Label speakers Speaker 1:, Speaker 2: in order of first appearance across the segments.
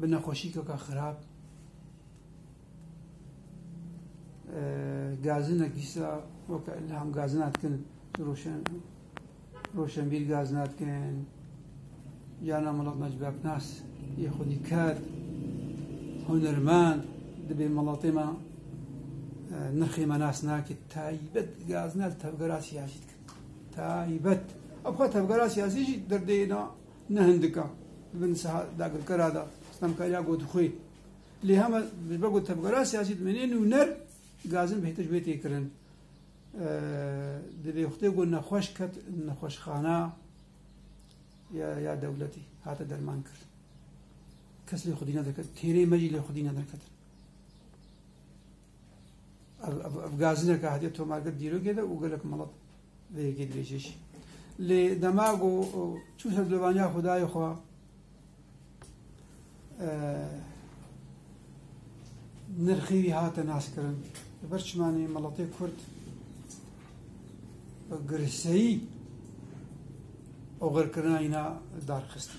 Speaker 1: bi nexweşîkeka xirab gazinek îsa weke ilham gazina dikin roşen roşenbîr gazina dikin jana Melat Necib Aknas yê xwedî ker hunermend dibê melatê me nirxê me nas nake taybet gazina tevgera siyasî dikin taybet ev xwe tevgera siyasî jî derdê na Ne hindika di bin siha dagirkera de stemkariya got xwe lê heme ji ber ku tevgera siyasî dimene nûner gazin bihêtir ji wê tê kirin. Di vêxtê ku nexweş ket nexweşxana ya dewletî hate derman kir. Kes lê xwedî nederket. Têrê me jî lê xwedî nederketin. Ev gazineke hatiye tomargir dîrokê de û gelek melet vê yekê dibêje jî. Lê dema ku çû ser dovaniya Xwedayê xwe nirxî wî hate naskirin. Li ber çimanê meletê Kurd girseyî oxirkirina îna darxistî.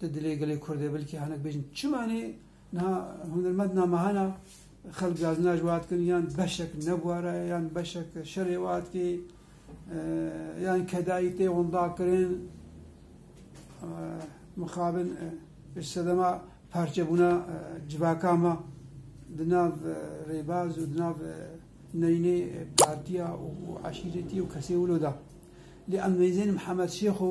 Speaker 1: Di dilê gelê Kurd de bilkî hinek bêjin çima nê niha hunermend na mehana xelk gaznaj wiha dikin yan beşek nebwara ye yan beşek şerê wiha dikê yan kedayî tê windakirin mixabin ji sedema parçebûna civaka me di nav rêbaz û di nav neynê partiya û eşîretî û kesê wilo de. Lê em neyzên Mihemed Şêxo